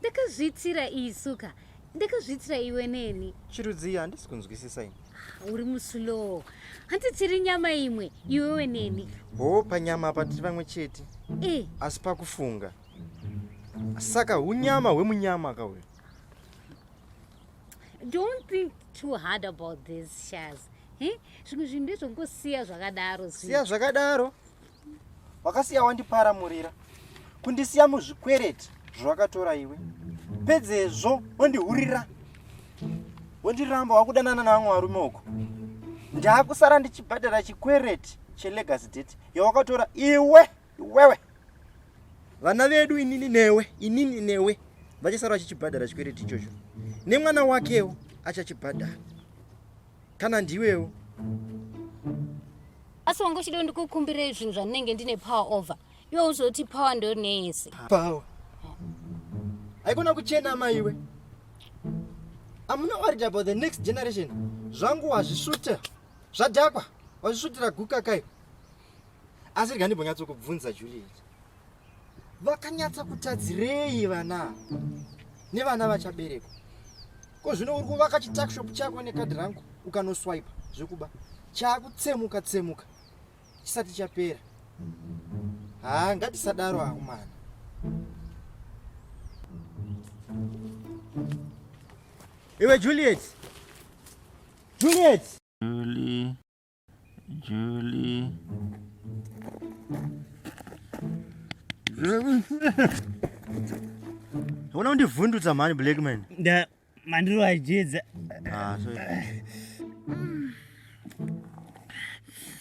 ndakazviitira isu ka ndakazviitira iwe neni chirudzii handisi kunzwisisa ini ah, uri muslow hanti tiri nyama imwe iwewe neni hoo panyama apa tiri vamwe chete e asi pakufunga saka unyama hwemunyama ka uyo don't think too hard about this shaz zvimwe zvinhu ndezvongosiya zvakadaro siya zvakadaro wakasiya wandiparamurira kundisiya muzvikwereti zvawakatora iwe pedzezvo wondihurira wondiramba wakudanana navamwe varume uko ndaakusara ndichibhadhara chikwereti chelegacy date yawakatora iwe iwewe vana vedu inini newe inini newe vachasara vachichibhadhara chikwereti ichocho nemwana wakewo achachibhadhara kana ndiwewo asi wanga uchida ndikukumbirei zvinhu zvandinenge ndine power over iwe uzoti power ndo neyese power haikona kuchena maiwe amuna worried about the next generation zvangu wazvisvuta zvadhakwa wazvisvutira guka kai asi rega ndimbonyatsokubvunza juliet vakanyatsa kutadzirei vana nevana vachaberekwa ko zvino uri kuvaka chitakshop chako nekadhi rangu ukanoswipa zvekuba chakutsemuka tsemuka chisati chapera haa ngatisadaro hangu mwana iwe juliet juliet Julie. Julie. Unaona undivhundutsa mhani Blackman. Nda mandiro ajidza. Ah, sorry.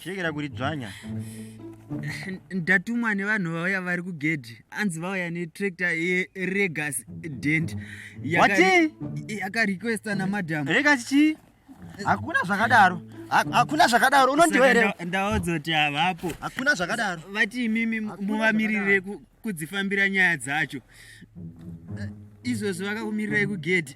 Chekera kuti dzvanya. ndatumwa nevanhu vauya vari kugedhi anzi vauya netrakta yeregas dent yakarequesta namadam regas chii hakuna zvakadaro hakuna zvakadaro unondiwa here ndaodzoti havapo hakuna zvakadaro vati imimi muvamiririre kudzifambira nyaya dzacho izvozvo vakakumirirai kugedhi